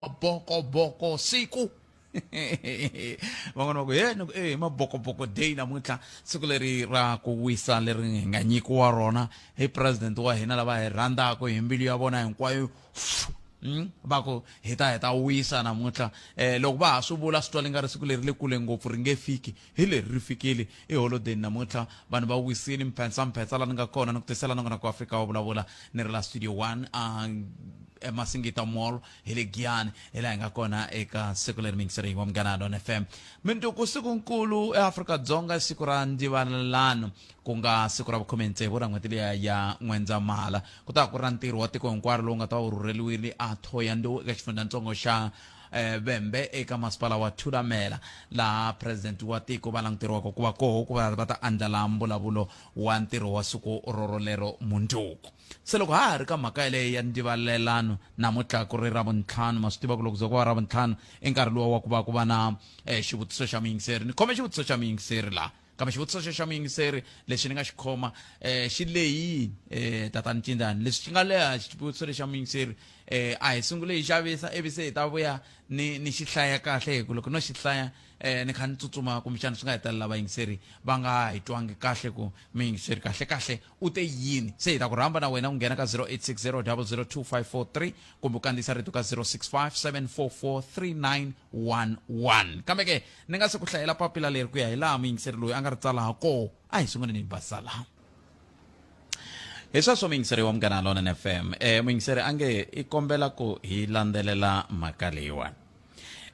mabokoboko siku van'wana va ku he ni ku e mabokoboko day namuntlha siku leri ra ku wisa leri hi nga nyikiwa rona hi president wa hina lava hi rhandzaka hi mbilu ya vona hinkwayo Mm, va ku hi ta hi ta wisa namuntlha um loko va ha swi vula swi twa li nga ri siku leri le kule ngopfu ri nge fiki Hi leri ri fikile. I holodeni namuntlha. Vanhu va wisile. Mphetsa, Mphetsa la ni nga kona ni ku tisela nongonoko wa Afrika wa Vulavula ni ri la Studio One a eMasingita Mall hi le Giyani hi laha hi nga kona eka siku leri mingiseriwa Munghana Lona FM. Minduku siku-nkulu eAfrika-Dzonga i siku ra Ndivalelano ku nga siku ra vukhume tsevu ra n'hweti liya ya N'wendzamhala. Ku ta va ku ri ra ntirho wa tiko hinkwaro lowu nga ta va wu rhurheriwile a Thohoyandou eka xifundzhantsongo xa eh, vembe eka masipala wa thulamela laha presidenti wa tiko va languteriwaka ku va koho ku va va ta andlala mbulavulo wa ntirho wa siku rorolero mundzuku se loko ha ha ri ka mhaka yeleyo ya ndivalelano namuntlha ku ri ra vuntlhanu ma swi tiva ku loko ze ku va ra vuntlhanu i nkarhi lowa wa ku va ku va na eh, xivutiso xa muyingiseri ni khome xivutiso xa muyingiseri laha kambe xivutiso xo xa muyingiseri lexi ni nga xi khoma um xi leyini um tatani cindani leswi xi nga leha xivutiso lexi xa muyingiseri um a hi sungule hi xavisa ivi se hi ta vuya ni ni xi hlaya kahle hi ku loko no xi hlaya um ni kha ni tsutsuma kumbexana swi nga hetelela vayingiseri va nga hi twangi kahle ku muyingiseri kahle kahle u te yini se hi ta ku rhamba na wena ku nghena ka 0860 002 543 kumbe u kandziyisa rito ka 065 744 39 11 kambe ke ni nga se ku hlayela papila leri ku ya hi laha muyingiseri loyi a nga ri tsala ha koo a hi sunguleni hi basa laha hi sweswo muyingiseri wa munghana lona n fm um eh, muyingiseri a nge i kombela ku hi landzelela mhaka leyiwani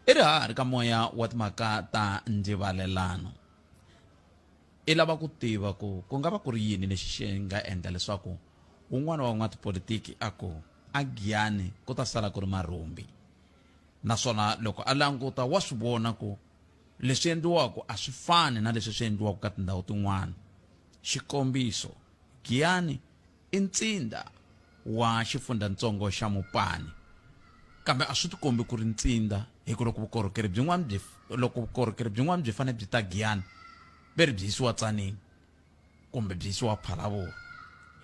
i ri ha ri ka moya wa timhaka ta ndzivalelano i lava ku tiva ku ku nga va ku ri yini lexi xi nga endla leswaku un'wana wa n'watipolitiki a ku a giyani ku ta sala ku ri marhumbi Naswona loko a languta wa swi vona ku leswi endliwaka a swi fani na leswi swi endliwaka ka tindhawu tin'wana. Xikombiso, Giyani i ntsinda wa xifundzhantsongo xa Mopani, kambe a swi tikombi ku ri ntsinda hi ku loko vukorhokeri byin'wana byi loko vukorhokeri byin'wana byi fanele byi ta Giyani ve ri byi yisiwa Tsanini kumbe byi yisiwa Phalaburu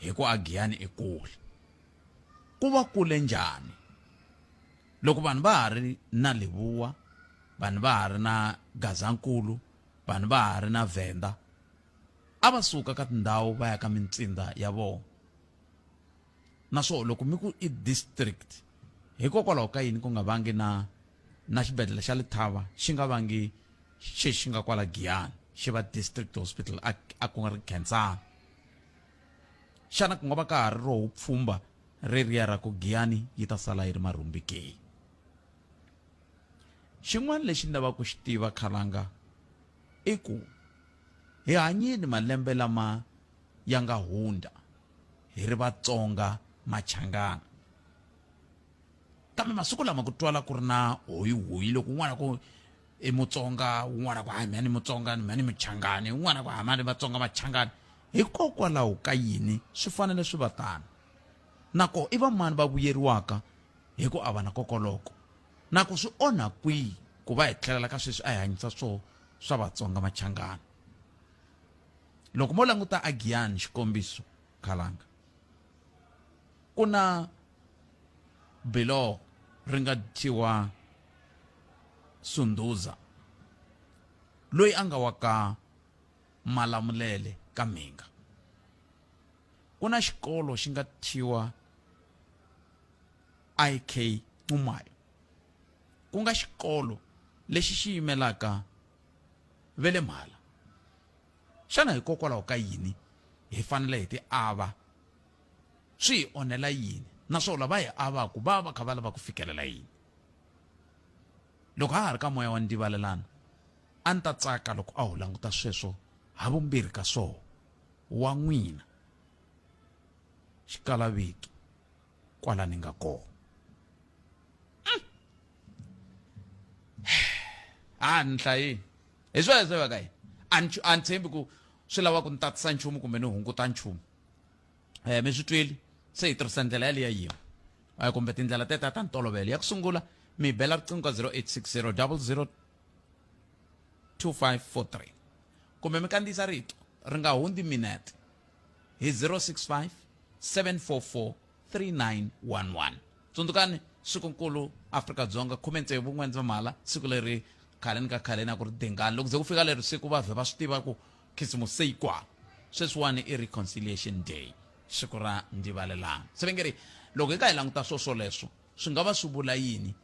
hi ku a Giyani i kule. ku va kule njhani loko vanhu va ha ri na Leboa, vanhu va ha ri na Gazankulu, vanhu va ha ri na Venda, a va suka ka tindhawu va ya ka mintsinda ya vona naswona loko mi ku i district hikokwalaho ka yini ku nga vangi na na xibedhlele xa Lethaba xi nga vangi xi xi nga kwala Giyani xi va district hospital a a ku nga ri Khensani Xana ku nga va ka ha ri roho pfhumba reriya ra ku Giyani yi ta sala yi ri marhumbi ke? Xin'wana lexi ni lavaka ku xi tiva khalanga i ku hi hanyini malembe lama ya nga hundza hi ri Vatsonga Machangana, kambe masiku lama ku twala ku ri na hoyihoyi loko un'wana ku i Mutsonga un'wana ku hayi mina ni Mutsonga mina ni Muchangani un'wana ku hayi mina ni Vatsonga Machangani. Hikokwalaho ka yini swi fanele swi va tano, na koho i vamani va vuyeriwaka hi ku avana kokoloko, na ku swi onha kwihi ku va hi tlhelela ka sweswi a hi hanyisa swoho swa Vatsonga Machangana? Loko mo languta a Giyani, xikombiso, Khalanga, ku na biloho ri nga thyiwa Sundhuza loyi a nga wa ka Malamulele ka mhinga. Ku na xikolo xi nga thyiwa IK Nxumalo, ku nga xikolo lexi xi yimelaka ve le Mhala. Xana hikokwalaho ka yini hi fanele hi ti ava? Swi hi onhela yini naswona lava hi avaku va va va kha va lava ku fikelela yini? Loko ha ha ri ka moya wa ndivalelano, A ni ta tsaka loko a ho languta sweswo havumbirhi ka swoho, wa n'wina, xikalavito, kwala ni nga koho. Um! A ni hlayi. Hi sweswo va ka yini? A ni, a ni tshembi ku swi lava ku ni tatisa nchumu kumbe ni hunguta nchumu. Eh, mi swi twile? Se hi tirhisa ndlela yaliya yin'we, eh, kumbe tindlela tetiya ta ntolovelo. Ya ku sungula, mi hi bela riqingho ka 0860 00 2543 kumbe mi kandziyisa rito ri nga hundzi minete hi 065 744 3911 tsundzukani swikunkulu afrika dzonga khume ntsevu n'wendzamhala siku leri khaleni ka khaleni a ku ri dengani loko ze ku fika leri siku vavhe va swi tiva ku khisimusi se yi kwala sweswiwani i reconciliation day siku ra ndivalelana se vengeri loko hi nga hi languta swoswoleswo swi nga va swi vula yini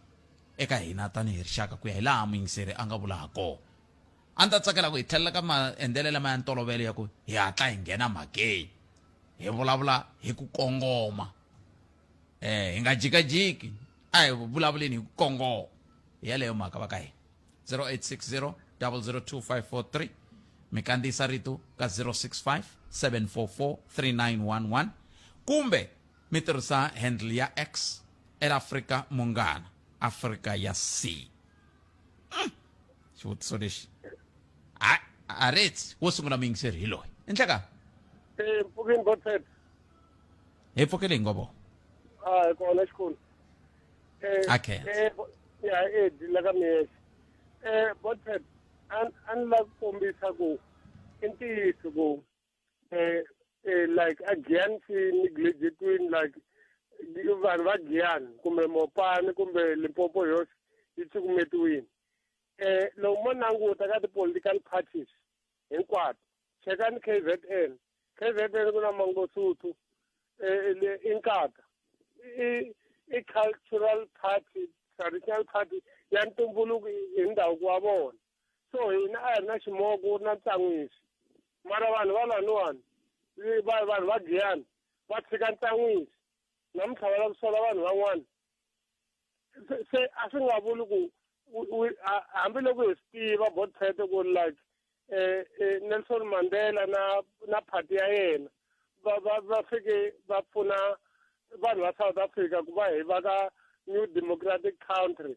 eka hina tanihi rixaka ku ya hi laha muyingiseri a nga vula ha kona. A ni ta tsakela ku hi tlhelela ka maendlelo lama ya ntolovelo ya ku hi hatla hi nghena mhakeni, hi vulavula hi ku kongoma. E, hi nga jikajiki, a hi vulavuleni hi ku kongoma. Hi yaleyo mhaka va ka hina. 0860 002543 mi kandziyisa rito ka 065 744 3911 kumbe mi tirhisa handle ya x el africa munghana africa ya c hmm. xivutiso lexi hayi a reti wo sungula muyingiseri hi loyi i ndleka e mpfukini botet hi pfukele hi ngovo a hi kona xikulu okay ya e dila ka miyexe um botet a ni lava ku kombisa ku i ntiyiso ku eh, eh, like a giyani si neglegetwini like vanhu va giyani kumbe mopani kumbe limpopo yosi yi cukumetiwini um loko mo languta ka ti-political parties hinkwato chekani k z n k z n ku na mangosuthu um i nkata i cultural party traditional party ya ntumbuluko hi ndhavuko wa vona so hina a hi ri na ximoko u ri na ntsan'wisi mara vanhu va laniwani vanhu vanhu va giyani va tshika ntsan'wisi namuntlha va lava ku sola vanhu van'wana se a swi nga vuli ku hambiloko hi swi tiva botphete ku ri like um nelson mandela na na phati ya yena va va va fike va pfuna vanhu va south africa ku va hi va ka new democratic country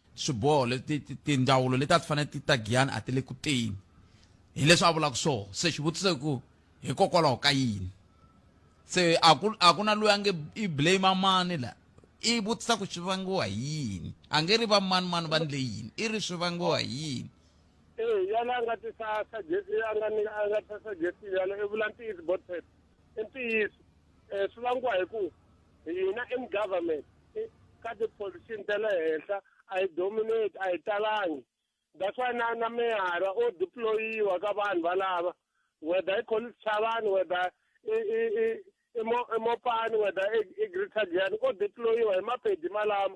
Swiboho leti tindzawulo leti a ti fanele ti ta Giyani a ti le ku teni, hi leswi a vulaka swona. Se xivutiso i ku, Hikokwalaho ka yini? Se a ku, a ku na loyi a nge i blame-a mani la. I vutisa ku swi vangiwa hi yini. A nge ri va mani-mani va endle yini. I ri swi vangiwa hi yini. E, yaloye a nga tisa suggestion, a nga ni, a nga tisa suggestion yaloye, i vula ntiyiso, Bothwell. i ntiyiso um swi vangiwa hi ku hina in government ka tipholisini ta le henhla a hi dominate a hi talangi that's why na na meyara o deployiwa ka vanhu valava whether i college chavani whether i i i i mo i mopani whether i i greater giyani o deployiwa hi mapedi malama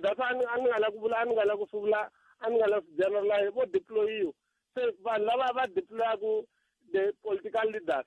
that's why a ni nga la ku vula a ni nga la ku swi vula a ni nga la swi generalize vo deployiwa se vanhu lava va deployaku the political leaders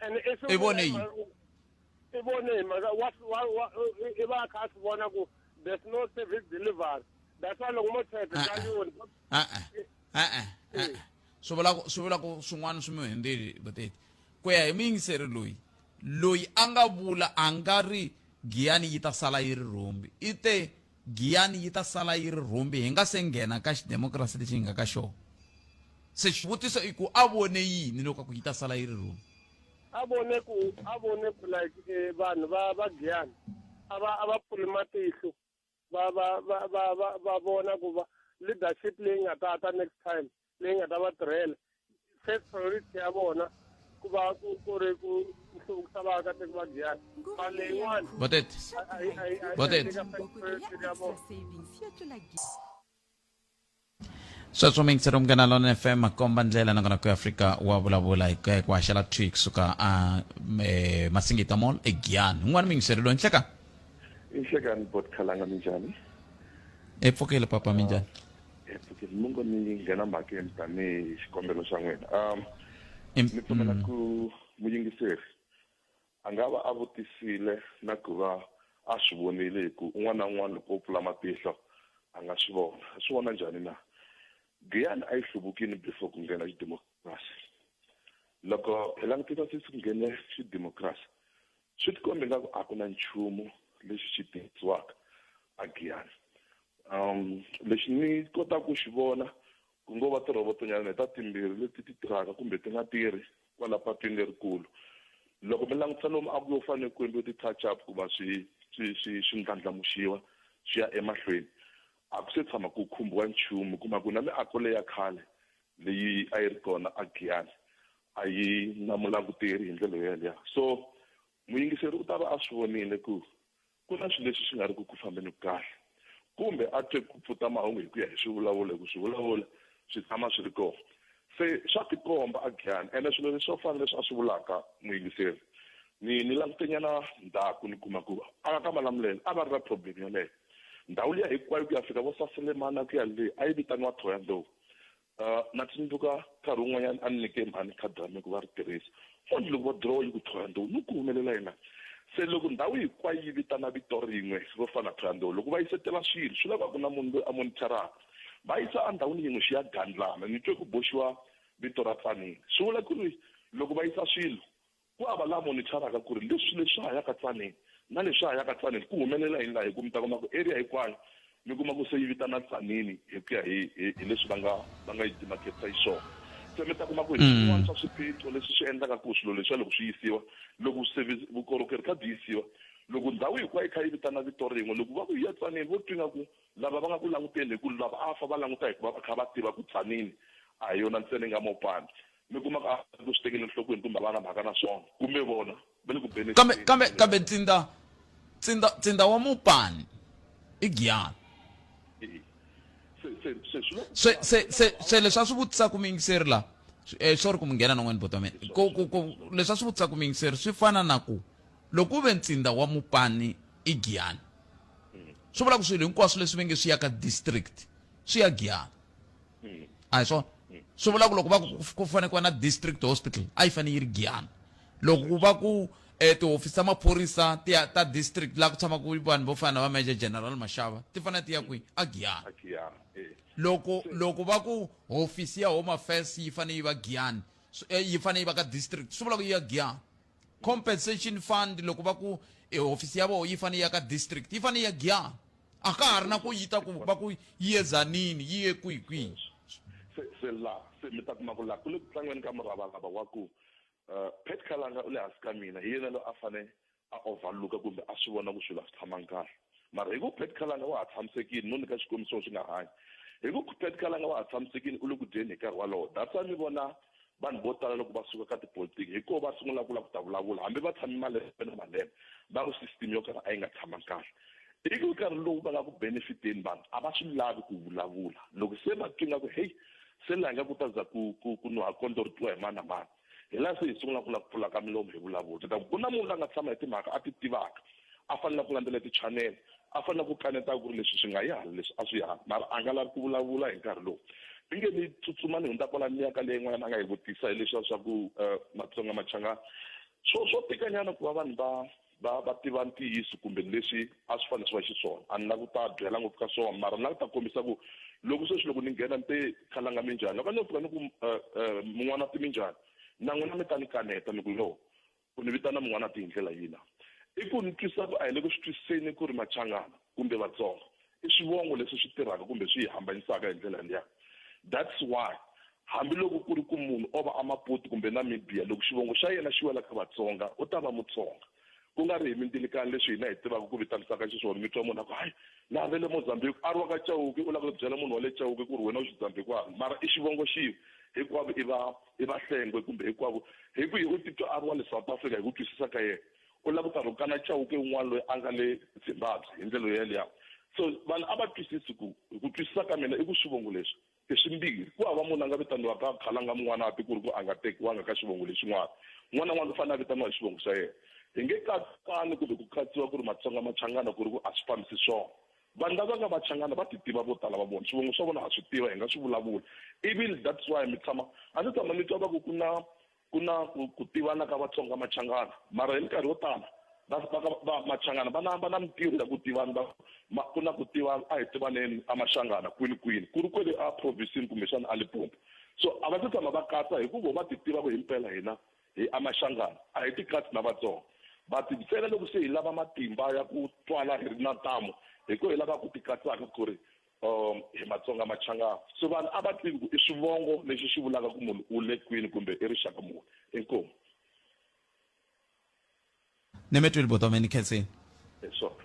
and if I vone yini? i vone hi mhaka wa wa wa i va a kha a swi vona ku there's no service delivery that's why loko mo tsheke Ah, ka ah. yoni e-e e-e e-e swi vula ku swi vula ku swin'wana swi mi hundzeli vuteti ku ya hi muyingiseri loyi loyi a nga vula a nga ri giyani yi ta sala yi ri rhombi i te Giyani yi ta sala yi ri rhumbi hi nga se nghena ka xidemokirasi lexi hi nga ka xona. Se xivutiso i ku a vone yini loko a ku yi ta sala yi ri rhumbi? A vone ku, a vone ku like e vanhu va va Giyani a va a va pfuli matihlo va va va va va va vona ku va leadership leyi nga ta ta next time leyi nga ta va tirhela first priority ya vona ku va ku ku ri ku hluvukisa vaakatiko va giyani mali leyiwani Botete. a- a- a- a- a- Botete. eka first priority ya vona sweswo mi yingisela munghana lona fm makomba ndlela nakona ku afrika wa vulavula hi ku ya hi ku haxela twi kusuka a eh, masingita mall egiyani un'wana mi yingiseri loyi nhleka inhlekani bot khalanga minjhani epfukile papa minjhani Phokisi mi ngo ni nghena mhakeni tanihi xikombelo xa n'wina um ni pfumela mm. ku muyingiseri a nga va a vutisile na ku va a swi vonile hi ku un'wana na un'wana loko o pfula matihlo a nga swi vona a swi vona njhani na giyani a yi hluvukile before ku nghena xidemokirasi loko hi langutisa sisi ku nghene xidemokirasi Swi tikombe ingaku a ku na nchumu lexi xi tirhisiwaka a Giyani. Um, lexi ni kotaka ku xi vona ku ngo va tirhobotonyana leta timbirhi leti ti tirhaka kumbe ti nga tirhi kwala patwini lerikulu. Loko mi langutisa lomu a ku yo fanele ku endliwe ti-touch up ku va swi swi swi swi ndlandlamuxiwa swi ya emahlweni a ku se tshama ku khumbiwa nchumu kuma ku na miako leya khale leyi a yi ri kona a Giyani a yi na mulanguteri hi ndlela yo yaleya so muyingiseri u ta va a swi vonile ku ku na swilo leswi swi nga ri ku ku fambeni kahle kumbe a twe ku pfuta mahungu hi ku ya hi swivulavulo hi ku swivulavulo swi tshama swi ri kona se swa tikomba a giyani ene swilo leswi swo fana leswi a swi vulaka muyingiseri ni ni langutenyana ndzhaku ni kuma ku a nga ka malamulelo a va ri na problem yaleyo ndhawu liya hinkwayo ku ya fika vo saselemana ku ya le a yi vitaniwa thoya ndlovu Uh, na tsundzuka nkarhi wun'wanyana a ni nyike mhani khadi ra mina ku va ri tirhisa onge loko va dirowa yi ku thoya ndhawu ni ku humelela yena se loko ndhawu hinkwayo yi vitana vito rin'we vo fana thoya ndhawu loko va yisetela swilo swi lava ku na munhu loyi a monitoraka va yisa endhawini yin'we xi ya gandlana ni twe ku boxiwa vito ra tsanile swi vula ku ri loko va yisa swilo Ku hava la monitharaka ku ri leswi leswi hanyaka Tzaneen na leswi hanyaka Tzaneen ku humelela hi laha hi ku mi ta kuma ku area hinkwayo mi kuma ku se yi vitana Tzaneen hi ku ya hi hi hi leswi va nga va nga yi dimaketisa hi swona. Se mi ta kuma ku hi swin'wana swa swiphiqo leswi swi endlaka ku swilo leswiya loko swi yisiwa loko service vukorhokeri kha byi yisiwa loko ndhawu hinkwayo yi kha yi vitana vito rin'we loko va ku hi ya Tzaneen vo twa ingaku lava va nga ku languteni hi ku lava a fa va languta hi ku va va kha va tiva ku Tzaneen a hi yona ntsena yi nga Mopani Mi kuma ku a va ku swi tekeli enhlokweni kumbe a va na mhaka na swona, kumbe vona va le ku beni Kambe, exibyeni kambe, kumbe kambe ntsinda, ntsinda, ntsinda wa mupani i giyangi. Eya. Se, se, se swi le ku Se, se, se, pfaleni. se leswi a swi vutisaka muyingiseri la, swi- eh, sorry ku mi nghena non'weni buti wa mina. It's Ku, all ku, right, ku, it's all right. leswi a swi vutisaka muyingiseri swi fana na ku, loko ku ve ntsinda wa mupani i giyangi, swi vula ku swilo hinkwaswo leswi ve nge swi ya ka district, swi ya giyangi. mm. a hi swona mm. swi vula ku loko va ku fanele ku va na district hospital a yi fanele yi ri giyana loko ku va ku um tihofisi ta maphorisa tiya ta district laha ku tshamaka vanhu vo fana na va major general maxava ti fanele ti ya kwihi a giyana eh. loko loko va ku hofisi ya home affairs yi fanele yi va giyani eh, yi fanele yi va ka district swi vula ku yi ya giyana compensation fund loko va ku e hofisi ya vona yi fanele ya ka district yi fanele ya giya a ka ha ri na ku yi ta ku va ku yi ezanini yi ye kwihi kwihi se se la se mi ta kuma ku la ku le ku tlangeni ka muravarava wa ku uh, pet kalanga u le hansi ka mina hi yena loyi a fane a overlooka kumbe a swi vona ku swilo a swi tshamangi kahle mara hi ku pet kalanga wa ha tshamisekile no nyika xikombiso xi nga hanyi hi ku pet kalanga wa ha tshamisekile u le ku dyeni hi nkarhi walowo that's why mi vona vanhu vo tala loko va suka ka tipolitiki hi koho va sungula ku la ku ta vulavula hambi va tshame malembe na malembe va ku system yo karhi a yi nga tshamangi kahle ivi nkarhi lowu va nga ku benefiteni vanhu a va swi lavi ku vulavula loko se va twi nga ku heyi se laha nga ku ta za ku ku ku nuha kondlo ri twiwa hi mani na mani hi laha se hi sungula ku la ku pfulaka milomu hi vulavula ta ku ku na munhu la nga tshama hi timhaka a ti tivaka a fanele ku landzela ti-channel a fanele ku kaneta ku ri leswi swi nga yi hala leswi a swi yi hala mara a nga lavi ku vulavula hi nkarhi lowu ni nge ni tsutsuma ni hundza kwala ni ya ka leyi n'wana a nga yi vutisa hi leswiya swa ku um matsonga machangana swo swo tikanyana ku va vanhu va va va tiva ntiyiso kumbe leswi a swi fanele swi va xiswona a ni lavi ku ta byela ngopfu ka swona mara ni lava ku ta kombisa ku loko sweswi loko ni nghena ni te khalanga minjhani loko a ni yo pfuka ni ku um um mun'wana ti minjhani na n'wina mi ta ni kaneta ni ku yo Ku ni vitana Mun'wanati hi ndlela yina? I ku ni twisa ku a hi le ku swi twisiseni ku ri Machangana, kumbe Vatsonga, i swivongo leswi swi tirhaka kumbe swi hi hambanyisaka hi ndlela liya. That's why hambi loko ku ri ku munhu o va a Maputi kumbe Namibia, loko xivongo xa yena xi wela ka Vatsonga, u ta va Mutsonga. Ku nga ri hi mindilkani leswi hina hi tivaka ku vitanisaka xiswona, mi twa munhu a ku, Hay! Laha va le Mozambique, a ri wa ka Chauke, u lava ku byela munhu wa le Chauke ku ri wena u Xidzambikwani, mara i xivongo xin'we, hinkwavo i va hi vahlengwe kumbe hikwavo hi kwihi u titwa a ri wa le south africa hi ku twisisa ka yena u lava karhi u kana chauke un'wana loyi a nga le zimbabwe hi ndlela yoyeliya so vanhu a va twisisi ku hi ku twisisa ka mina i ku swivongo leswi i swimbirhi ku hava munhu a nga vitaniwaka khalanga mun'wana a ti ku ri ku a nga tekiwanga ka xivongo lexin'wana n'wana n'wana u fanele a vitaniwa hi xivongo xa yena hi nge katsani kumbe ku katsiwa ku ri matsonga machangana ku ri ku a swi fambisi swona vanhu lava nga vachangana va ti tiva vo tala va vona swivongo swa vona ha swi tiva hi nga swi vulavula even that's why mi tshama a ni tshama ni twa va ku ku na ku na ku tivana ka vatsonga machangana mara hi minkarhi yo tala machangana va na va na mintirho ya ku tivana va ma ku na ku tivana a hi tivaneni a maxangana kwini kwini ku ri kwele a provincini kumbexana a lipompo so a va se tshama va katsa hikuva va ti tiva ku himpela hina Hi Amaxangana, a hi tikatsi na Vatsonga. Va tibyela loko se hi lava matimba ya ku twala hi ri na ntamu, hi ko hi lava ku tikatsaka ku ri um hi Matsonga Machangana. So vanhu a va tivi ku i swivongo lexi xi vulaka ku munhu u le kwini kumbe i rixaka muni. Inkomu. Nemetwili bhuti wami enikhetheni. Esop.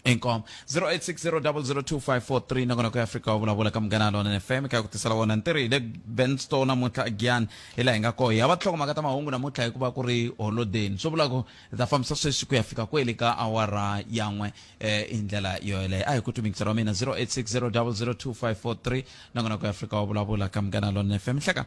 Inkom 0860002543 nakona ku Africa vulavula ka munghana lona ne FM ka ku tisela wona ntirhi le Ben Store namuntlha again hi la hi nga koho ya va tlhoko maka ta mahungu namuntlha hikuva ku ri holiday swo vula ku ta fambisa sweswi ku ya fika kweli ka awara yan'we eh hi ndlela yo yeleyo a hi ku tumikisa ra mina 0860002543 nakona ku Africa vulavula ka munghana lona ne FM hleka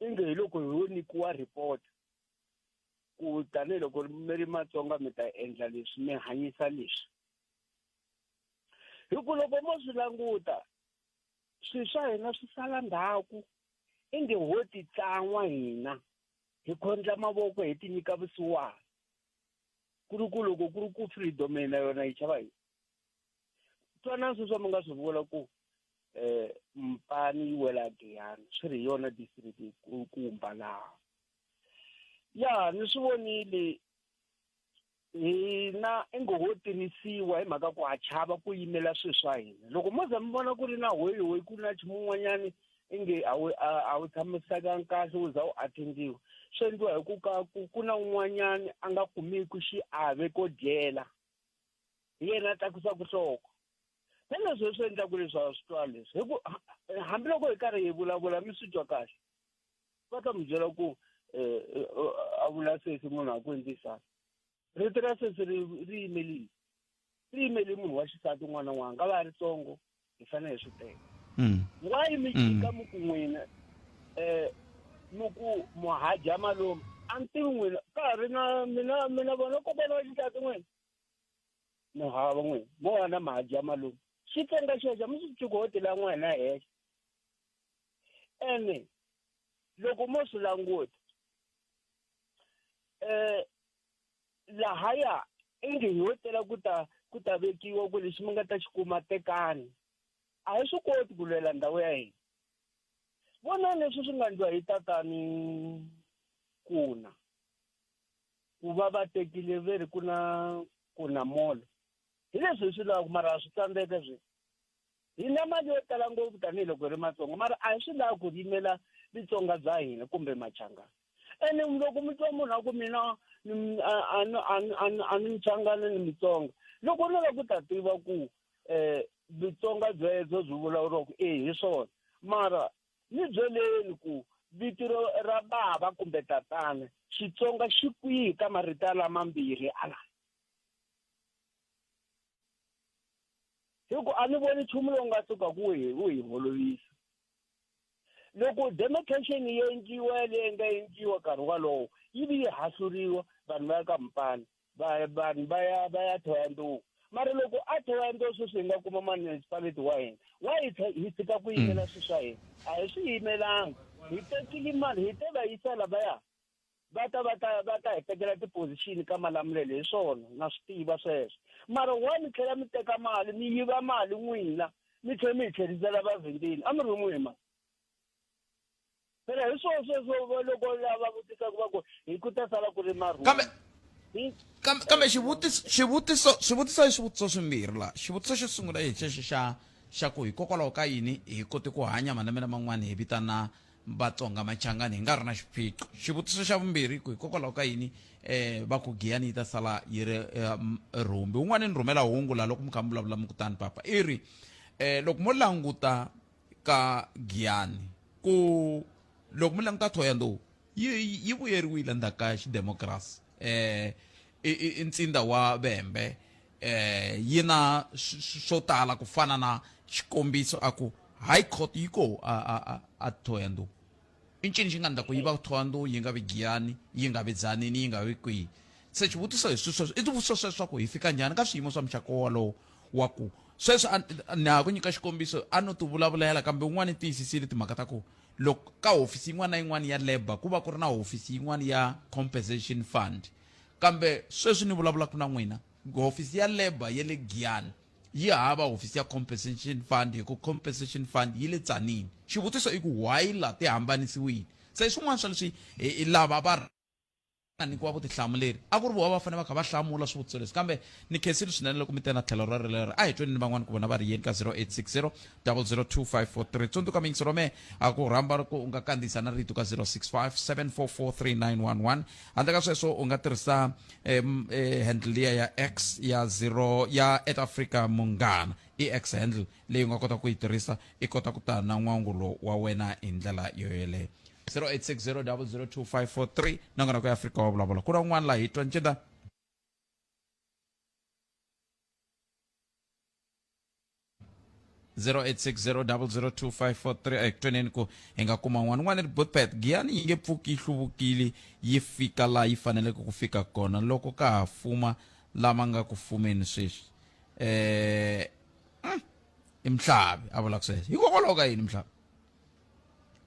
inge hi loko ho nyikiwa report ku tanihiloko mi ri matsonga mi ta endla leswi mi hanyisa leswi hi ku loko mo swi languta swilo swa hina swi sala ndhaku inge ho titsan'wa hina hi khondla mavoko hi ti nyika vusiwana ku ri ku loko ku ri ku freedom yena yona yi chava yini twanani sweswi mi nga swi vula ku um mpani yi wela giyani swi ri hi yona district kumba laha ya ni swi vonile hina i ngo ho tirhisiwa hi mhaka ku ha chava ku yimela swilo swa hina loko mo za mi vona ku ri na hoyihoyi ku na nchumu un'wanyani inge a wu a wu tshamisekanga kahle u za u attendiwa swi endliwa hi ku ka ku ku na un'wanyani a nga kumiki xiave ko dyela hi yena a tlakusa ku hloko na leswi leswi endlaku leswaku swi twa leswi hi ku hambiloko hi karhi hi vulavula mi swi twa kahle va ta mi byela ku um a vula sesi munhu a ku endlisana rito ra sesi ri ri yimelini ri yimeli munhu wa xisati un'wana na un'wana nga va ya ritsongo hi fanele hi swi teka mm. why mi chika mm. muku n'wina um muku muhadya malume a ni tivi n'wina ka ha ri na mina mina vona kokwana wa xitati n'wina no hava n'wina mo wana mahadya malume xi tsenga xexo mi swi cukuhoti la n'wina hexe ene loko mo swi languta um lahaya inge hi yo tela ku ta ku ta vekiwa ku lexi mi nga ta xi kuma tekani a hi swi koti ku lwela ndhawu ya hina vonani leswi swi nga ndliwa hi tatani kuna ku va va tekile ve ri ku na kuna molo hi leswi hi swi lavaka mara swi tsandzeka swi hi na mali yo tala ngopfu tanihiloko hi ri matsonga mara a hi swi lavi ku yimela vitsonga bya hina kumbe machangana ene loko mi twa munhu a ku mina a ni mchangana ni mitsonga loko ni la ku ta tiva ku um eh, vitsonga byebyo byi vulavuriwaku e hi swona mara ni byeleni ku vito ra bava kumbe tatana xitsonga xi kwihi ka marito lamambirhi ala hi ku a ni voni nchumu lowu nga suka ku hi wu hi holovisa loko demarcation yi endliwa leyi nga endliwa nkarhi walowo yi vi yi hahluriwa vanhu va ya ka mpana vanhu va ya va ya thoya nduku mara loko a thoya nduku sweswi hi nga kuma municipality wa hina wa hi hi tshika ku yimela hmm. swilo swa hina a hi swi yimelanga hi tekile mali hi te va yisa lavaya va ta va ta va ta hi tekela tipozixini ka malamulelo hi swona na swi tiva sweswo mara wa mi tlhela mi teka mali mi yiva mali n'wina mi tlhela mi hi tlherisela vavhindini a mi ri n'wi ma phela hi swona sweswo loko lava vutisaka va ku hi ku ta sala ku ri marhumbi kambe xivutiso xivutiso swivutiso i swivutiso swimbirhi laha xivutiso xo sungula hi xexo xa xa ku hikokwalaho ka yini hi kote ku hanya malembe laman'wana hi vitana Vatsonga Machangani hi nga ri na xiphiqo. Xivutiso xa vumbirhi ku hikokwalaho ka yini va ku Giyani yi ta sala yi ri rhumbi? Un'wana ni rhumela hungu laha loko mi kha mi vulavula mi ku tani papa i ri loko mo languta ka Giyani ku loko mi languta Thohoyandou yi yi vuyeriwile ndzhaku ka xidemokirasi i i i ntsinda wa Vhembe eh, yi na swo tala ku fana na xikombiso a ku high court yi ko a, a, a, a thoyando i ncini xi nga ndla ku yi va thoyando yi nga vi giyani yi nga vi dzanini yi nga vi kwihi se xivutiso hi swisweswo i swivutiso sweswaku hi fika njhani ka swiyimo swa muxako wolowo wa ku sweswi ni ha ku nyika xikombiso a no ti vulavulela kambe un'wana i tiyisisile timhaka ta ku loko ka hofisi yin'wana na yin'wana ya labour ku va ku ri na hofisi yin'wana ya compensation fund Kambe sweswi ni vulavulaka na n'wina, hofisi ya labour ya le Giyani yi hava hofisi ya compensation fund hikuva compensation fund yi le Tzaneen. Xivutiso i ku why laha ti hambanisiwile? Se swin'wana swa leswi lava va nga nyikiwa vutihlamuleri a ku ri vona va fanele va kha va hlamula swivutiso leswi. Kambe ni khensile swinene loko mi te na tlhelo rolero. A hi tweni ni van'wana ku vona va ri yini ka 0860-0025443. Tsundzuka miyingiselo ya mehe, a ku rhamba loko u nga kandziyisa na rito ka 0657443911. handle ka sweswo u nga tirhisa um, eh, handle liya ya x ya zero ya at africa munghana i x handle leyi u nga kota ku yi tirhisa i kota ku ta na n'wangulo wa wena hi ndlela yo yeleyo 0860002543 na n'wana ku ya afrika wa vulavula ku na un'wana laha hi twa nceda 0860002543 ekutweneni ku hi nga kuma n'wana n'wana ri botpet giyani yi nge pfuki yi hluvukile yi fika laha yi faneleke ku fika kona loko ka ha fuma lama nga ku fumeni sweswi eh mm, i mhlavi a vulaka sweswo hikokwalaho ka yini mhlavi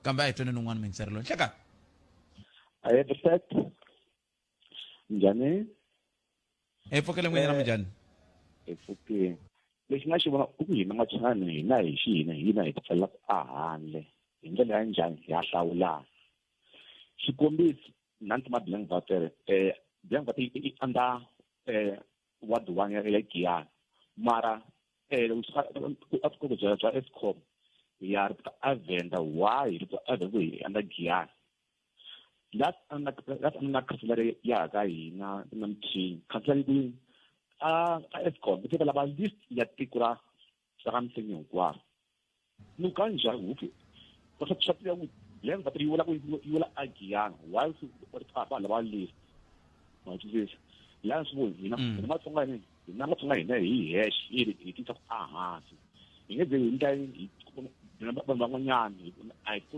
kambe a hi tweneni un'wana mingiseri loyi nhlekani I have a set njhani hi pfukile n'wini na minjhani hi pfukile lexi nga xi vona i ku hina machangani hina hi xi hina hina hi tipfalelaka a handle hi ndlela ya njhani ha hlawulana xikombiso nanti ma blank vatere um blank vate i under um ward one ya giyana mara um ku byela bya escom ya ri ta avenda why ri ta avenda ku hi under giyana la la la la khanselara ya ka hina namthini khanselara yi a a escom ku teka lava list ya tiko ra ra ka msenyi hinkwaro ni ka njhani huki va swa swa tiva ku land va yi wela ku yi wela agiyana why swi va lava list ma twisisa la swi vo hina mm. hina matsonga hina hina matsonga hina hi hash hi hi tisa ku a hansi hi nge ze hi ndla hi vanhu van'wanyana a hi ku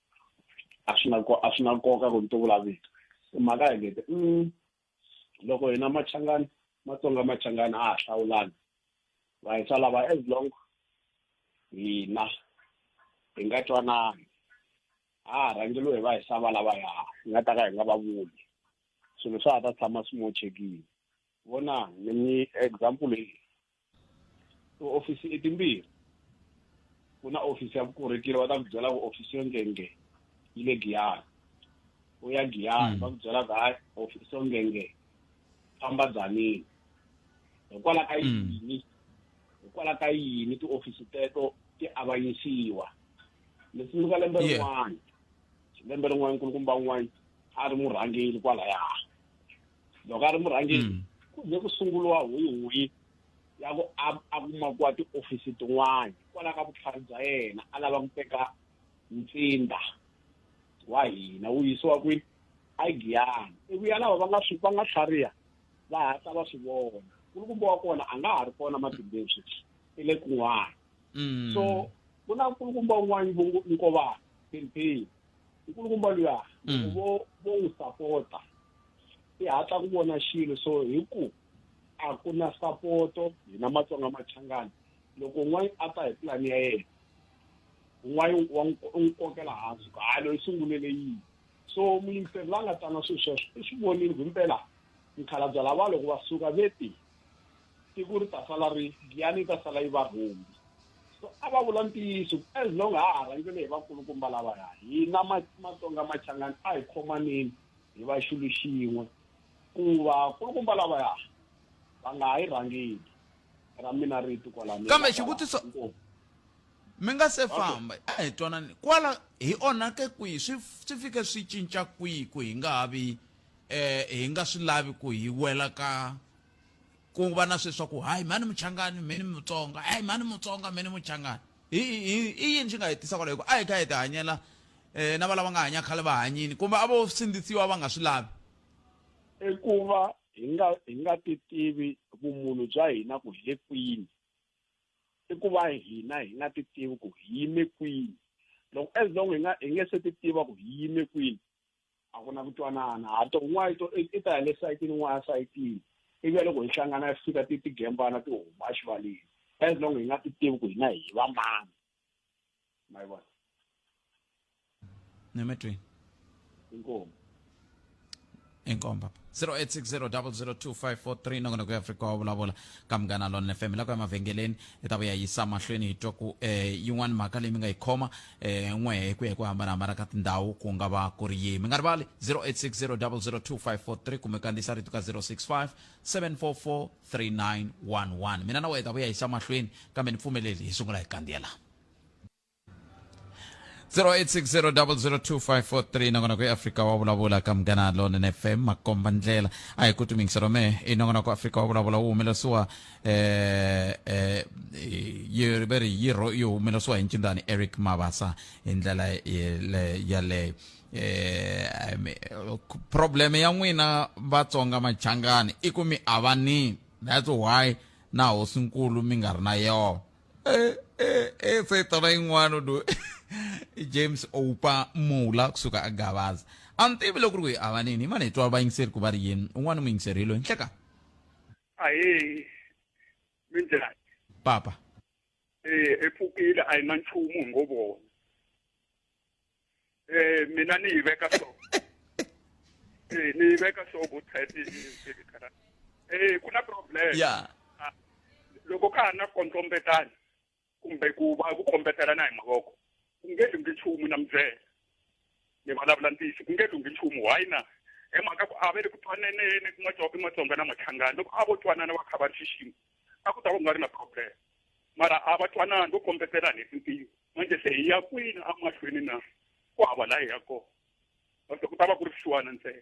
a swi na a swi na nkoka ku ni ti vulavito mhaka ya ngete mm, loko hina machangani matsonga machangani a ha hlawulani va hi sala va as long hina hi nga twanani a ha rhangeliwe hi va hi sava lava ya hi nga ta ka hi nga va vuli swilo swa ha ta tshama swi mochekile vona ni mi example leyi tiofisi i timbirhi ku na ofisi ya vukorhokeri va ta ku byela ku ofisi yo ngenge yi le giyani u ya giyani va ku byela ku hayi ofisi yo ngenge famba dzanini hikwalaho ka yini hikwalaho ka yini tiofisi teto ti avanyisiwa ni tsundzuka lembe rin'wana lembe rin'wana nkulukumba un'wana a ri murhangeli kwalaya loko a ri murhangeri mm. ku ze ku sunguriwa huyihuyi ya ku a kumakiwa tiofisi tin'wana hikwalaho ka vutlhari bya yena a lava ku teka ntsinda wa hina wu yisiwa kwini aigiyana iku ya lava va nga swi va nga tlhariha va hatla va swi vona nkulukumba wa kona a nga ha ri kona matimbeni sweswi i le kun'wana mm. so ku na nkulukumba un'wana nkovana philiphini nkulukumba luya mm. vo vo n'wi sapota i hatla ku vona xilo so hi ku a ku na sapoto hina matsonga machangani loko un'wana a ta hi pulani ya yena un'wana wa n'wi kokela hansi ku hayi loyi sungulele yini so muyingiseri la nga tana swilo sweswo i swi vonile ku himpela mukhalabya lava loko va suka ve ti tiko ri ta sala ri giyani yi ta sala yi va rhumbi so a va vula ntiyiso as long ha ha rhangele hi vakulukumba lavaya hina matsonga machangani a hi khomanini hi va xilo xin'we, ku vakulukumba lavaya va nga ha yi rhangeli ra mina rito kwala ni Kambe nga kwala xivutiso, inkomu. mi nga se Okay. famba, a hi twanani kwala hi onhake kwihi, swi swi fike swi cinca kwihi ku hi nga ha vi eh, hi nga swi lavi ku hi wela ka ku va na sweswa ku hayi mhani muchangani mhani mutsonga hayi mhani mutsonga mhani muchangani i yini xi nga hi tisa kwalaho a hi kha hi ti hanyela um na valava nga hanya khale va hanyini kumbe a vo sindzisiwa va nga swi lavi i ku va hi nga hi nga ti tivi vumunhu bya hina ku hi le kwini i ku va hina hi nga ti tivi ku hi yime kwini loko as long hi nga hi nge se ti tiva ku hi yime kwini a ku na ku twanana ha to n'wana i to i ta hi le sayitini n'wana ya sayitini ivi ya loko hi hlangana ya fika ti ti gembana ti huma exivaleni as long hi nga ti tivi ku hina hi va mani ma yi vona ni mi twi inkomu inkomu papa 0860002543 nakona ku ya afrika wa vulavula ka munghana lona fm la ku ya mavhengeleni hi ta vuya yisa mahlweni hi twa ku um yin'wana mhaka leyi mi nga yi khoma eh, n'we hi ku ya hi ku hambanahambana ka tindhawu ku nga va ku ri yihi mi nga rivali 0860002543 kumbe kandziyisa rito ka 065 744 3911 mina na wena hi ta vuya hi xa mahlweni kambe ni pfumeleli hi sungula hi kandziyela 0860002543 nongonoko ya afrika wa vulavula ka munghana lonene fm makomba ndlela a hi ku tumingiselo me i nongonoko afrika wa vulavula wu humelerisiwa eh eh yi va ri yi ro- yi humeleriwa hi ncindani eric mabasa hi ndlela yele- yaleyo eh I mean, problem ya n'wina vatsonga machangani i ku mi avani that's why na hosinkulu mi nga ri na yona eh eh eh se tona yin'wana do james oupa mula kusuka a gavaza a ni tivi loko ri ku hi avanini hi mani hi twa vayingiseri ku va ri yini un'wana muyingiseri hi loyi nhleka ahee minjhani papa eh epfukile a yi na nchumu hi ngo vona eh mina ni yi veka so eh ni yi veka so ku type yi khara eh ku na problem ya loko ka ha na kondlombetani kumbe ku va ku kombetelana hi mavoko ku nge lunghi nchumu na mubyela ni vulavula ntiyiso ku nge lunghi nchumu why na hi mhaka ku a va le ku twaneneni ku matsonga matsonga na matlhangani loko a vo twanana va kha va ri xixima a ku ta va ku nga ri na problem mara a va twanani vo kombetelani hi tintiyo manje se hi ya kwini amahlweni na ku hava la hi ya kona mase ku ta va ku ri swisiwana ntsena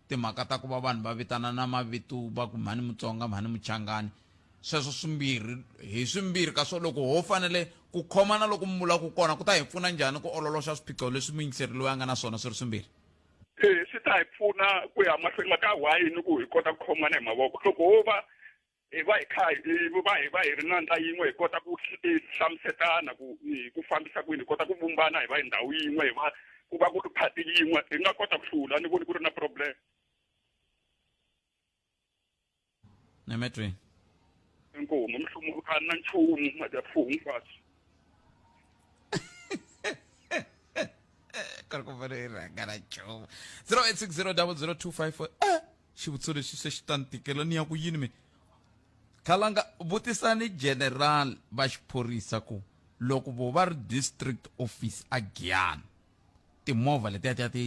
timhaka ta ku va vanhu va vitanana mavito va ku mhani mutsonga mhani muchangani sweswo swimbirhi hi swimbirhi ka swo loko ho fanele ku khomana loku mi vulaku kona ku ta hi pfuna njhani ku ololoxa swiphiqo leswi muyingiseri loyi a nga na swona swi ri swimbirhi e swi ta hi pfuna ku ya mahlweni maka why ni ku hi kota ku khomana hi mavoko loko ho va hi va hi kha hi va hi va hi ri na ndla yin'we hi kota ku hlamusetana ku hi ku fambisa kwini hi kota ku vumbana hi va hi ndhawu yin'we hi va ku va ku ri phati yin'we hi nga kota ku hlula ni voni ku ri na problem nemetweni inkomo mihlumu a na nchumu madyafuhu hinkwaswo kari ku vona i rhanga ra nchumu 0860 00254 xivutiso lexi se xi ta ni tikela ni ya ku yini mina khalanga vutisani general va xiphorisa ku loko vo va ri district office a giyana timovha letiya tiya ti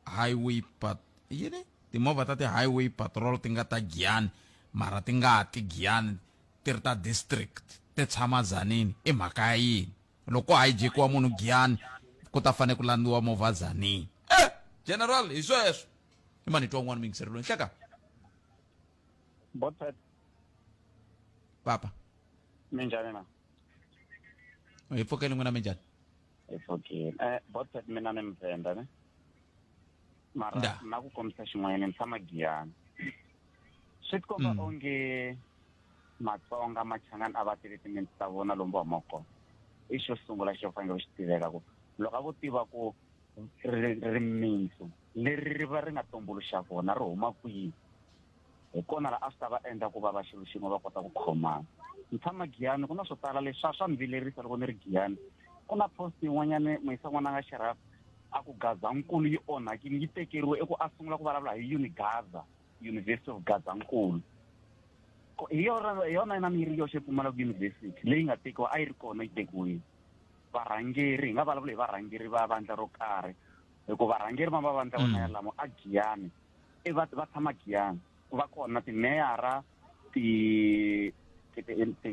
highway pat yini timovha ta ti-highway patrol ti nga ta giyani mara ti nga ti giyani ti ri ta district ti tshama zanini i mhaka ya yini Loko ko hijack-iwa munhu Giyani ku ta fanele ku landziwa movha Zani. Eh! General, hi sweswo. Hi mani twa un'wana muyingiseri loyi, nhleka. Botpet. Papa. Minjhani na? Hi pfukeni n'wina minjhani? Hi pfukeni. Eh, Botpet mina ni Mvenda ne. mara Nda. na ku kombisa xin'wanyana ni tshama giyani swi tikomba Mm. onge matsonga machangani a va tele timintsi ta vona lomu va humaka kona i xo sungula xo fanele ku xi tiveka ku loko a vo tiva ku ri- rimintsu leri ri va ri nga tumbuluxa kona ri huma kwihi hi kona la a swi ta va endla ku va va xilo xin'we va kota ku khomana ni tshama giyani ku na swo tala leswi swa swa ni vilerisa loko ni ri giyani ku na post yin'wanyana muyisa n'wana nga xeraf a ku gazankulu yi onhakile yi tekeriwe i ku a sungula ku vulavula hi unigaza university of gazankulu hi yona hi yona yina mi yi ri yoxe pfumalaka university leyi nga tekiwa a yi ri kona yi tekiwile varhangeri hi nga vulavula hi varhangeri va vandla ro karhi hikuva varhangeri va mavandla vona mm. yalamo a giyani i va va tshama giyani ku va kona timeyara ti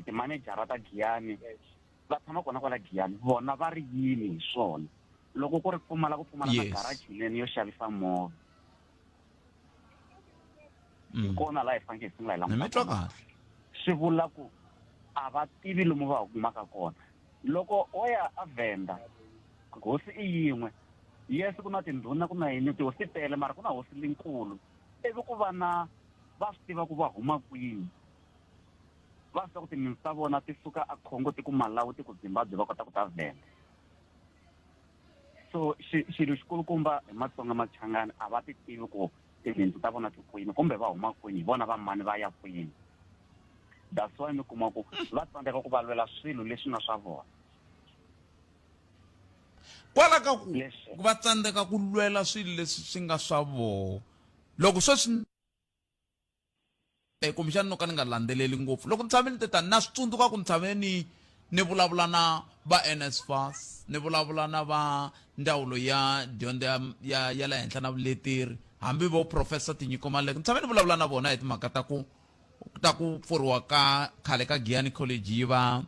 timanejara ta giyani va tshama kona kwala giyani vona va ri yini hi swona loko ku ri pfumala ku pfumala na garaji leni yo xavisa movha Mm. hi kona laha hi fanekele hi sungula hi ni mi twa languta kahle swi vula ku a va tivi lomu va humaka kona loko o ya a venda hosi i yin'we yes ku na tindhuna ku na yini tihosi ti tele mara ku na hosi linkulu ivi ku va na va swi tiva ku va huma kwini va swi tiva ku timinsi ta vona ti suka a khongo ti ku malawi ti ku zimbabwe va kota ku ta venda so xilo xikulukumba hi matsonga machangani a va ti tivi ku tinhindzu ta vona ti kwini kumbe va huma kwini hi vona va mani va ya kwini that's why mi kuma ku va tsandzeka ku valwela swilo leswi nga swa vona kwala ka ku va tsandzeka ku lwela swilo leswi swi nga swa vona loko sweswi e kumbexani no ka ni nga landzeleli ngopfu loko ni tshame ni te tani na swi tsundzuka ku ni tshame ni ni vulavula na va NSFAS ni vulavula na va ndzawulo ya dyondzo ya ya ya le henhla na vuleteri hambi vo professor Tinyiko Maluleke ni tshame ni vulavula na vona hi timhaka ta ku ta ku pfuriwa ka khale ka Giyani College yi va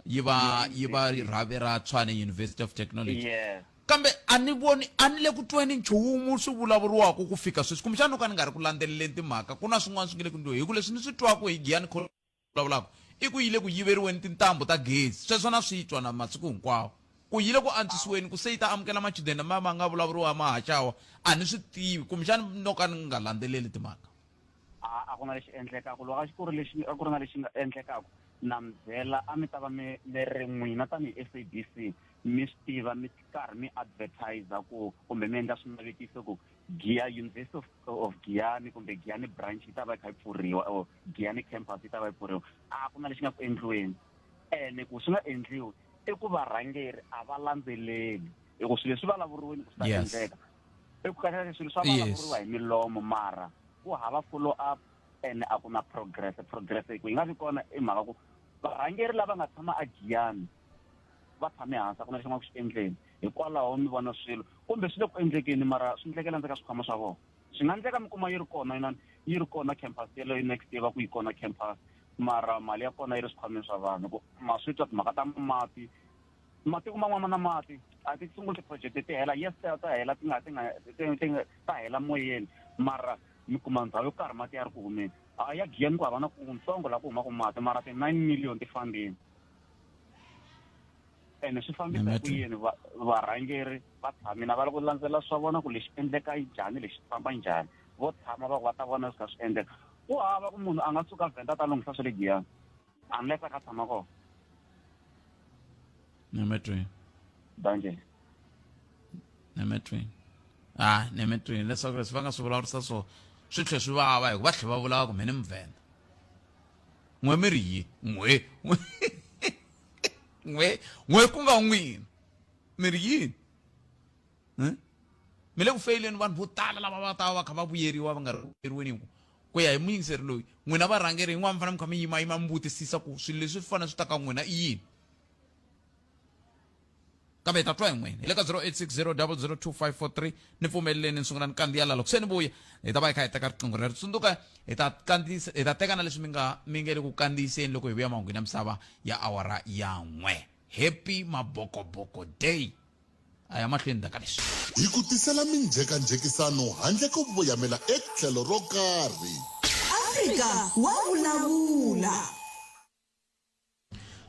yi va yi va rhavi ra tshwane university of technology yeah kambe a ni voni a ni le ku tweni nchumu swi vulavuriwaka ku fika sweswi kumbexana no ka ni nga ri ku landzeleleni timhaka ku na swin'wana swi nge le ku ndliweni hi ku leswi ni swi twaka hi giyani vulavulaka i ku yi le ku yiveriweni tintambu ta gezi sweswo na swi twa na masiku hinkwawo ku yi le ku antswisiweni ku se yi ta amukela machudeni lama ma nga vulavuriwa mahaxawa a ni swi tivi kumbexana no ka ni nga landzeleli timhaka a a ku na lexi endlekaka loko a ku ri lexi a ku ri na lexi nga endlekaka na mi byela a mi ta va mi mi ri n'wina tanihi s a b c mi swi tiva mi karhi mi advertiser ku kumbe mi endla swinavetiso ku gia university of, of giani kumbe giani branch yi ta va yi kha yi pfuriwa or giani campus yi ta va yi pfuriwa a ku na lexi nga ku endliweni ene ku swi nga endliwi i ku varhangeri a va landzeleli hikuva swilo leswi vulavuriweni ku swi ta endleka i ku kahle swilo swa vulavuriwa hi milomo mara ku hava follow up and a ku na progress progress hi ku yi nga vi kona i mhaka ku varhangeri lava nga tshama a giyani va tshame hansi a ku na lexi nga ku xi endleni hikwalaho mi vona swilo kumbe swi le ku endlekeni mara swi endlekela ndzeka swikhwama swa vona swi nga endleka mi kuma yi ri kona yinani yi ri kona campus yeleyo next year va ku yi kona campus mara mali ya kona yi ri swikhwameni swa vanhu ku ma swi twa timhaka ta mati matiko man'wana na mati a ti sunguli ti-project ti hela yes ta ta hela ti nga ti nga ti nga ta hela moyeni mara mi kuma ndhawu yo karhi mati ya ri ku humeni a ya giyeni ku hava na kuntsongo laha ku humaka mati mara ti-nine million ti fambeni ene swi fambisa hi ku yini varhangeri va tshamina va lava ku landzelela swa vona ku lexi endleka njhani lexi famba njhani vo tshama va ku va ta vona swi kha swi endleka ku hava ku munhu a nga suka vhenda ta lunghisa swa le giyani unless a ka tshama kona nemetweni banjeni nemetweni ha nemetweni leswaku leswi va nga swi vulavurisa swona swi tlhe swi vava hikuva tlhe va vulaka mhe ni muvhenda n'we mi ri yi n'we n'we n'we ku nga n'wina mi ri yini hmm? mi le ku feyileni vanhu vo tala lava va ta va kha va vuyeriwa va nga ri vuyeriweni ku ku ya hi muyingiseri loyi n'wina varhangeri yin'wana mi fanele mi kha mi yima yima mi vutisisa ku swilo leswi swi fanele swi ta ka n'wina i yini kambe hi ta twa hi n'wina hi le ka 0860002543 ni pfumeleleni ni sungula ni kandziya la loko se ni vuya hi ta va hi kha hi teka riqingho rero tsundzuka hi ta kandziyisa hi ta teka na leswi mi nga mi nge le ku kandziyiseni loko hi vuya mahungwini ya misava ya awara ya n'we happy mabokoboko day a ya mahlweni ndzhaka leswi. Hi ku tisela minjhekanjhekisano handle ko voyamela etlhelo ro karhi. Afrika wa vulavula.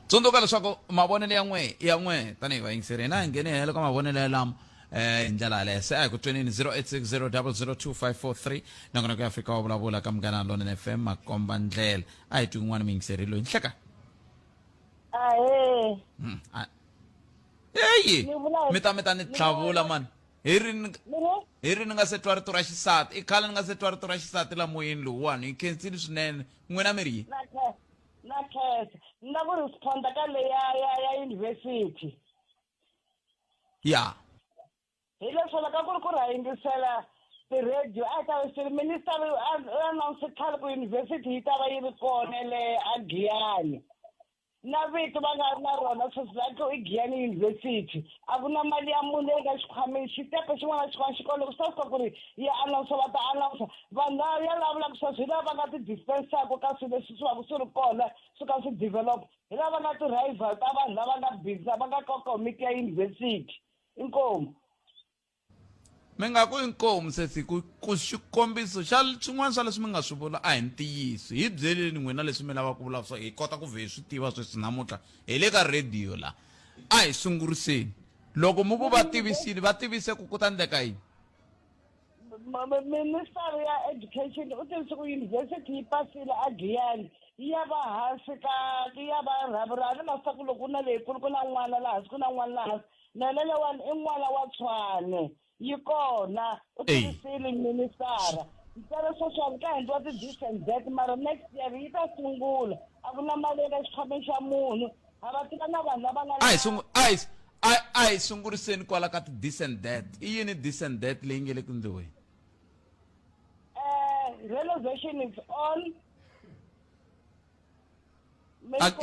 tsundzuka leswaku mavonelo ya n'we ya n'we tanihi vayingiseri hina hi nghene helo ka mavonelo yalamo um eh, hi ndlela yaleyo se a hi ku twenini 0860 nongonoko ya afrika wa vulavula ka munghana lona f m makomba ndlela a hi twi un'wana muyingiseri loyi nhleka ahe hmm, heyi Ni vula hi- mi ta mi ta ni ni tlhavula vula- mani hi ri ni- ni ngo hi ri ni nga se twa rito ra xisati i khale ni nga se twa rito ra xisati la moyeni lowuwani hi khensile swinene n'wina mi ri yini na khe- na khensa ni la ku responda ka leya ya ya university ya hi leswo loko ku ri ku ri ha yingisela ti-radio a hi ta ve siri minister announce khale ku yunivhesiti yi ta va yi ri kona le a giyani na vito va nga ri na rona sweswi va tlo i giyani yunivhesiti a ku na mali ya munhu leyi nga xikhwameni xitepe xin'wana na xin'wana xikolo ku sasika ku ri ya announce va ta announce vanhu va ya lavulaka sweswi hi lava va nga ti-dispensaka ka swilo leswi swi vaku swi ri kona swi ka swi develop hi lava va nga ti-rival ta vanhu lava nga busy va nga ka komiti ya yunivhesiti inkomu mi nga ku inkomu sesi ku ku xikombiso xa swin'wana swa leswi mi nga swi vula a hi ntiyiso hi byeleni n'wina leswi mi lavaka ku vula swa hi kota ku vhe hi swi tiva sweswi namuntlha hi le ka rhediyo la a hi sunguriseni loko mi ku va tivisile va tivise ku ku ta ndleka yini minister ya education u tivise ku yunivhesiti yi pasile a giyani yi ya va hansi ka yi ya va rhaburhani masaku loko u na leyikulu ku na n'wana laha hansi ku na n'wana laha hansi na na lewani i n'wana wa tshwane yi kona u tivisile ministara ntsena social ka endliwa ti-this and that mara next year yi ta sungula a ku na mali eka xikhwameni xa munhu a va tiva na vanhu lava nga a hi sungu a hi a a hi sunguriseni kwala ka ti this and that i yini this and that leyi nge le ku ndliweni eh renovation is on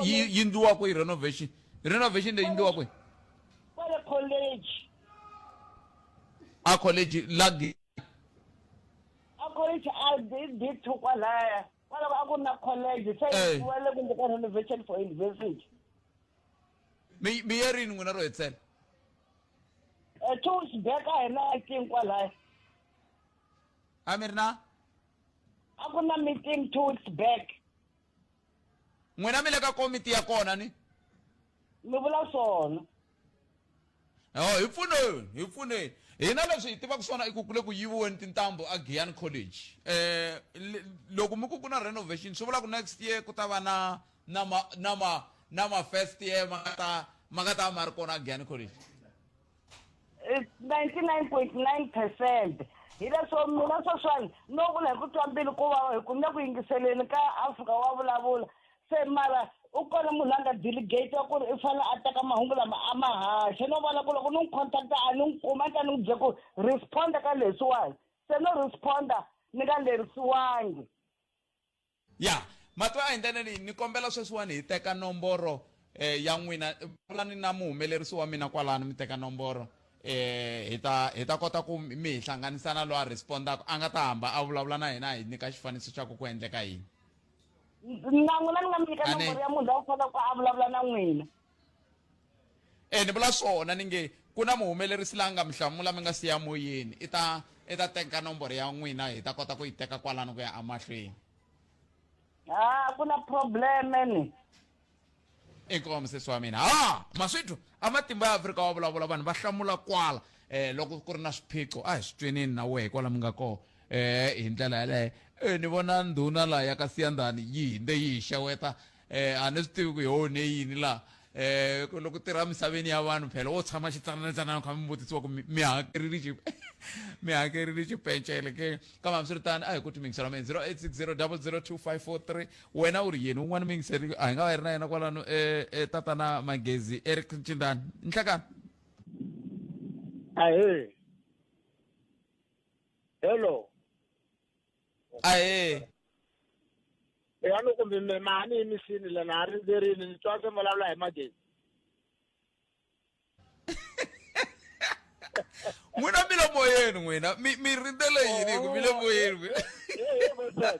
yi ndliwa kwihi renovation renovation leyi ndliwa kwihi kwale college a college lagi a college a bithukwa laya kwaloko a ku ri na college se Eh. yi wele kumbe ka renovation for university mi mi ye rini n'wina ro hetisela Eh, two weeks back a hi na meeting kwalaya a mi ri na a ku na meeting two weeks back n'wina mi le ka komiti ya kona ni mi vula swona Oh, hi pfuneni hi pfuneni hina leswi hi tivaka swona i ku ku le ku yiviweni tintambu a giyani college eh loko mi ku ku na renovation swi vula ku next year ku ta va na na ma na ma na ma first year ma nga ta ma nga ta ma ri kona a giyani college 99.9 percent hi leswo mina sweswiwani no vula hi ku twa mbilu ku vava hi ku ni le ku yingiseleni ka afrika wa vulavula se mara u kona munhu la nga delegate wa ku ri i fanele a teka mahungu lama a ma haxa no vona ku loko ni n'wi contacta a ni n'wi kuma ni ta ni n'wi bye ku responda ka leswiwani se no responda ni nga lerisiwangi ya matwa a hi ndlela leyi ni kombela sweswiwani hi teka nomboro eh, ya n'wina vulani na muhumelerisi wa mina kwalano mi teka nomboro eh hi ta hi ta kota ku mi hi hlanganisana loyi a respondaka a nga ta hamba a vulavula na hina hi nyika xifaniso xa ku ku endleka yini na n'wina ni nga mi nyika Ane. nomboro ya munhu la u faneleke a vulavula na n'wina e ni vula swona ni nge ku na muhumelerisi la nga mi hlamula mi nga siya moyeni i ta i ta teka nomboro ya n'wina hi ta kota ku yi teka kwalano ku ya emahlweni ha ku na probleme ni inkomu musesi wa mina ha maswithu a matimba ya afrika wa vulavula vanhu va hlamula kwala eh loko ku ri na swiphiqo a hi swi tweneni na wehe kwala mi nga kona eh hi ndlela yaleyo eh ni vona ndhuna laha ya ka siyandhani yi hinde yi hi xeweta eh a ni swi tivi ku hi onhe yini laha eh ku- loko tirha misaveni ya vanhu phela wo tshama xitsananatsanana kha mi vutisiwa ku mi mi hakerile xi mi hakerile xipencele ke kambe hambiswiritano a hi ku timingisela mina 0860002543 wena u ri yini un'wana muyingiseri a hi nga va hi ri na yena kwalano e, e tatana magezi eric ncindani nhlekani ahee hello ahee ya loko mi mema a ni yimisini lena a rindzerini ni twa se vulavula hi magezi n'wina milomo yenu n'wina mi mi rindzele yini hi ku milomo yenu n'wina Hey, hey, my son.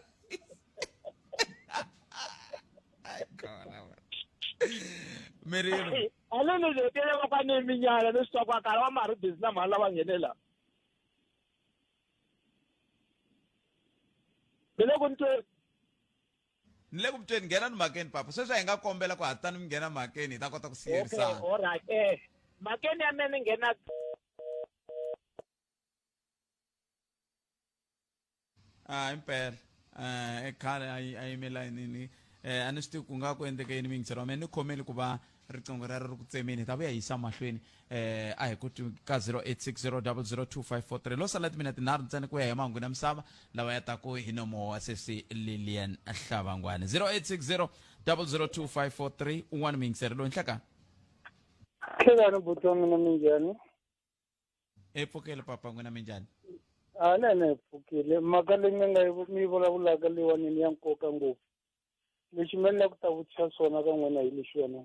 mi ri yini Aleni nje tele kwa kwa ni minyala ni swa kwa kala wa mari busy na mhala wa ngenela. Bele ku ntwe ni le ku mi tweni nghena ni makeni papa sweswi hi nga kombela ku hatani mi nghena makeni hi ta kota ku siyerisana okay, right eh makeni ya mene nghena ah impela eh khale a yi a yimela yini eh a ni swi tivi ku nga ku endleke yini mingitsero wa mina ni khomeli ku va riqingho rero ri ku tsemeni hi ta vuya yisa mahlweni eh a hi ku twi ka 0860002543 lo sala timina tinharhu ntsena ku ya hi mahungu na misava lawa ya taku hi nomo wa sesi lilian hlavangwani 0860002543 un'wana muyingiseri loyi nhlakani khekani buti wa mina minjhani e pfukele papa n'wina minjhani a na yena hi pfukile mhaka leyi mi nga yi- mi yi vulavulaka leyiwanini ya nkoka ngopfu lexi mina ni la ku ta vutisa swona ka n'wina hi lexi wena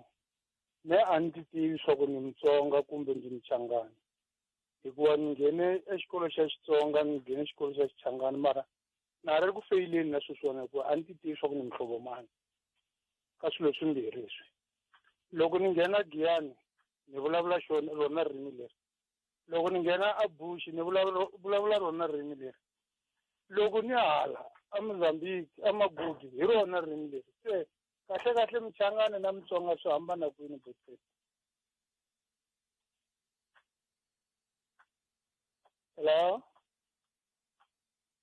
me a ni ti tivi swa ku ni mutsonga kumbe ndzi muchangani hikuva ni nghene exikolo xa xitsonga ni nghene xikolo xa xichangani mara na ha ri ku feyileni na sweswiwona hikuva a ni ti tivi swa ku ni muhlovo mani ka swilo swimbirhi leswi loko ni nghena giyani ni vulavula xona rona ririmi leri loko ni nghena a Bush ni vulavula ro, vulavula rona ririmi leri, loko ni ya hala a Mozambique a Maputo hi rona ririmi leri se, kahle kahle Muchangana na Mutsonga swi hambana kwini Buks? Hello.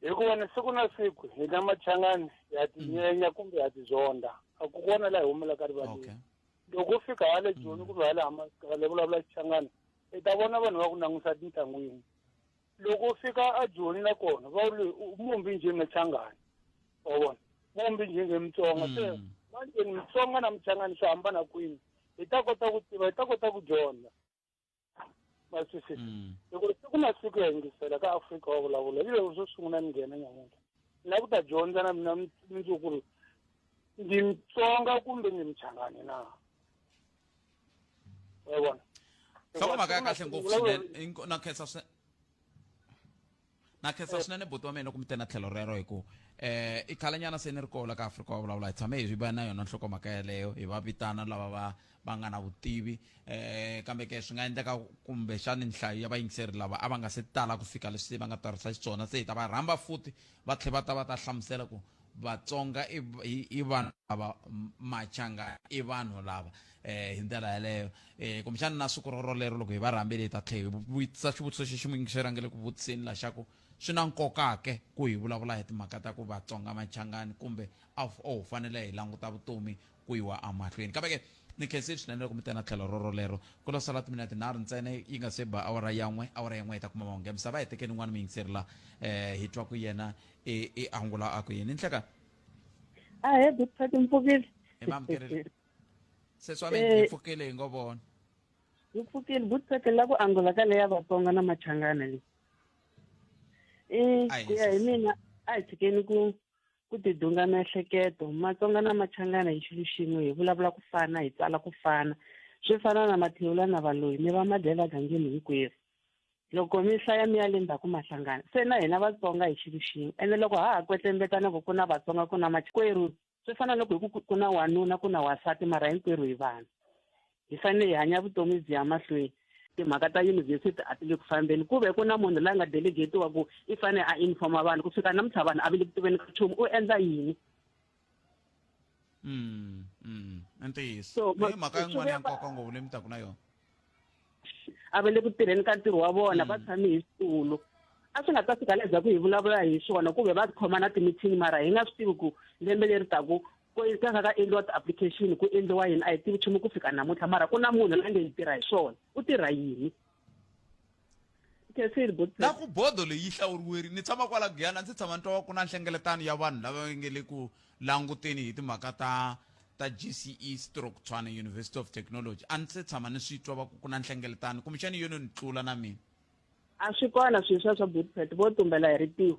hikuva ni siku na siku hi na machangani ha tinyenya mm. kumbe ha tizonda a ku kona laha hi humelaka rivaleni loko u fika hale mm. joni kumbe hale hale vulavula xichangani i ta vona vanhu va ku langusa tintlangwini loko u fika a joni nakona va ri mumbi njhe machangani wa vona mumbi njhe nge mutsonga se mm. manjeni mutsonga na muchangani swi hambana kwini hi ta kota ku tiva hi ta kota ku dyondza ma twisisa Mm. loko siku na siku ya yingisela ka afrika wa vulavula yi loko swo sungula ni nghena nyamuntlha ni lava ku ta dyondza na mina mi- mundzuku ku ri ndi mtsonga kumbe ndi mchangani na wa vona nhlokomhaka ya kahle ngopfu Loko- swinene Inko- na khensa swi- na khetsa swinene buti wa mina ku mi tena tlhelo rero hi ku um eh, i khalanyana se ni ri kola ka afrika wa vulavula hi tshame hi va na yona nhlokomhaka yeleyo hi va vitana lava va va nga na vutivi um kambe ke swi nga endleka kumbexani nhlayo ya vayingiseri lava a va nga se tala ku fika leswi va nga tirhisa xiswona se hi ta va rhamba futhi va tlhe va ta va ta hlamusela ku Vatsonga i i, i vanhu lava machanga i vanhu lava eh hi ndlela yaleyo eh kumbexana na siku rorolero loko hi va rhambile hi ta tlhe hi vutisa xivutiso xexi muingiseri a nge le ku vutiseni la xa ku swi na nkoka ke ku hi vulavula hi timhaka ta ku vatsonga machangani kumbe a wu fanele hi languta vutomi ku yiwa amahlweni kambe ke ni khense swinene loko mi tena tlhelo roro lero ku lo sala timinete nharhu ntsena yi nga se ba awara ya n'we awara ya n'we yi ta kuma mahungu ya misava hetekeni n'wana muyingiseri la eh hi twa ku yena i i angula a ku yini nhleka a he doctor timpfukile hi mamukerile sesi wa mina hi pfukile hi ngo vona hi pfukile butseke la ku angula ka leya vatsonga na machangana leyi i ku ya hi mina a hi tshikeni ku ku tidunga miehleketo matsonga na machangana hi xilo xin'we hi vulavula ku fana hi tsala ku fana swi fana na mathewula na valoyi mi va madyela gangeni hinkwerhu loko mi hlaya mi ya le ndzhaku mahlangana se na hina vatsonga hi xilo xin'we ene loko ha ha kwetlembetana ku ku na vatsonga ku na makwerhu swi fana loko hi ku ku na wanuna ku na wasati mara hinkwerhu hi vanhu hi fanele hi hanya vutomi byi ya mahlweni timhaka ta yunivhesiti a ti le ku fambeni ku ve ku na munhu la nga delegetiwa ku i fanele a informa vanhu ku fika namuntlha vanhu a va le ku tiveni ka nchumu u endla yini mm, mm. i ntiyiso i mhaka yin'wana ya nkoka ngopfu leyi mi taku na yona a va le ku tirheni ka ntirho wa vona va mm. tshame hi switulu a swi nga ta fika leza ku hi vulavula hi swona ku ve va khoma na timithini mara hi nga swi tivi ku lembe leri taku ku ka nga ka endliwa ti-application ku endliwa yini a hi tivi nchumu ku fika namuntlha mara ku na munhu la nge yi tirha hi swona u tirha yini na ku bodo leyi hlawuriweri ni tshama kwala guyana ndzi tshama ni twa ku na nhlengeletano ya vanhu lava nge le ku languteni hi timhaka ta ta gce stroke tshwana university of technology a ndzi se tshama ni swi twa va ku ku na nhlengeletano kumbexani yono ni tlula na mina a swi kona swilo swa swa bootpet vo tumbela hi ritiho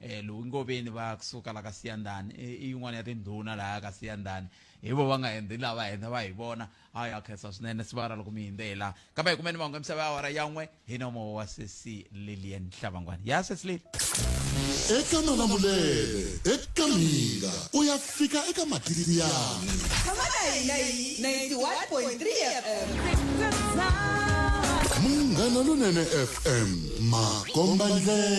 eh lowu ngoveni va kusuka la ka siyandani i yin'wana ya tindhuna laha ka siyandani hi vo va nga hindhi lava hindha va hi vona a ya khensa swinene siva ra loko mi hindzela kambe hi kumeni mahungu ya misava ya awara yan'we hi nomo wa sesi lilian hlavangwana ya sesi lili eka malamulele eka minga ku ya fika eka matiliyani munghana lonene fm makomba ndlela